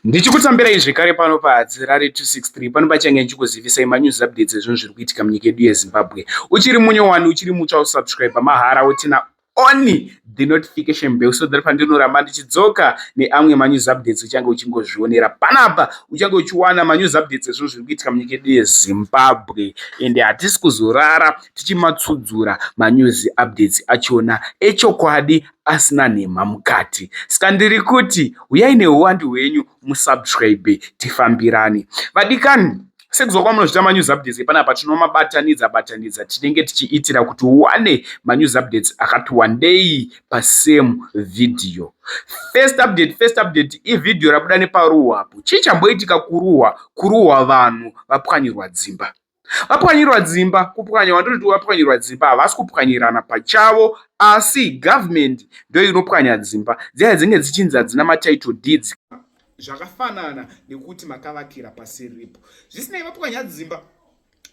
ndichikutambirai zvekare pano pahadzi rari 263 pano pachange ndichikuzivisai manews updates ezvinhu zviri kuitika munyika yedu yezimbabwe uchiri munyowani uchiri mutsva usubscribe mahara wotina only the notification bell so that pandinoramba ndichidzoka neamwe manews updates uchange uchingozvionera panapa uchange uchiwana manews updates ezvinhu zviri kuitika munyika yedu yezimbabwe ende hatisi kuzorara tichimatsudzura manews updates achona echokwadi asina nhemha mukati ska ndiri kuti huyai nehuwandu hwenyu musubscribe tifambirane vadikani Sekuziva kwamunozvita manews updates epanapa tinomabatanidza batanidza tinenge tichiitira kuti uwane manews updates akati wandei pasame video. First update, first update ivhidhiyo rabuda neparuwa apo. Chii chamboitika kuruwa? Kuruwa vanhu vapwanyirwa dzimba. vapwanyirwa dzimba kupwanya wandoti vapwanyirwa dzimba havasi kupwanyirana pachavo asi government ndo inopwanya dzimba dziya dzinge dzichinzi hadzina matitle deeds zvakafanana nekuti makavakira pasiripo zvisinei vapwanya dzimba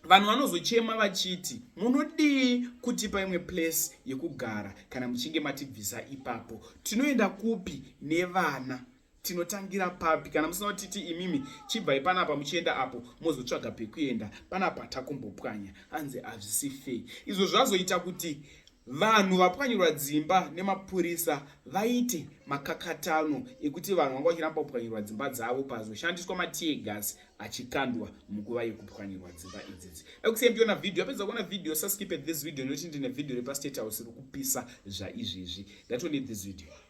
vanhu vanozochema vachiti munodii kutipa imwe place yekugara kana muchinge matibvisa ipapo tinoenda kupi nevana tinotangira papi kana musina kutiti imimi chibvai panapa muchienda apo mozotsvaga pekuenda panapa takumbopwanya hanzi hazvisi fei izvo zvazoita kuti vanhu vapwanyirwa dzimba nemapurisa vaite makakatano ekuti vanhu vanga vachiramba kupwanyirwa dzimba dzavo pazoshandiswa matiegas achikandwa munguva yekupwanyirwa dzimba idzidzi ekusei ndiona vhidhiyo apedza kuona vhidhiyo saskipe this video nekuti ndine vhidhiyo repastate house rikupisa zvaizvezvi ndatone this video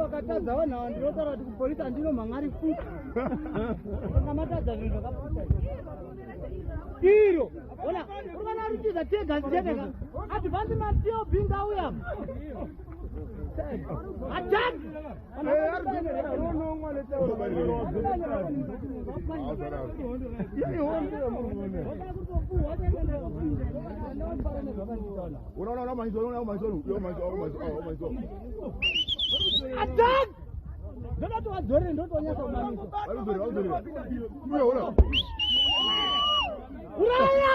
vakatadza vanhu ava ndinotaura kuti kupolisi handino mhangari futi vanga matadza zvinhu zvakaputa iro ona uri vana rutiza tega zitendeka advansi matio binga uyam Attack! Ndoda towadzore ndotonyasa kumamisa. Uraya!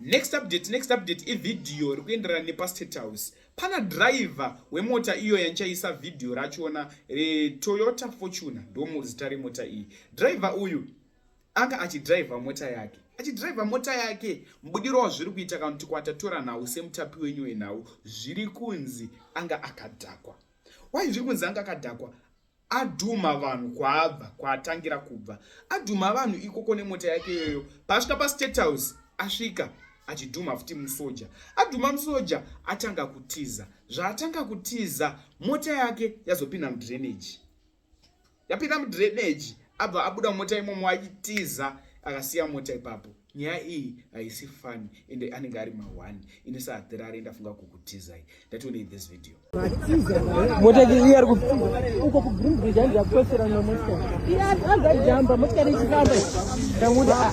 next update next update ivhidhiyo ri kuenderana nepastate house pana driver wemota iyo yanchaisa vhidhiyo rachona retoyota fortuna ndomuzita remota iyi driver uyu anga achidriver mota yake achidriver mota yake mubudiro wazviri kuita kana kuti kwatatora nhau semutapi wenyu wenhau zviri kunzi anga akadhakwa wai zviri kunzi anga akadhakwa adhuma vanhu kwaabva kwaatangira kubva adhuma vanhu ikoko nemota yake iyoyo paasvika pastate house asvika achidhuma futi musoja adhuma musoja atanga kutiza zvaatanga kutiza mota yake yazopinda mudrainage yapinda mudrainage abva abuda mumota imomo achitiza akasiya mota ipapo nyaya iyi haisi fani ende anenge ari ma1 ini saathirari ndafunga kukutizai ndationei this video motakari iyi ari uko kugrindbridge andi yakupesera na motikari iyi azajamba motikari ichifamba ndamuda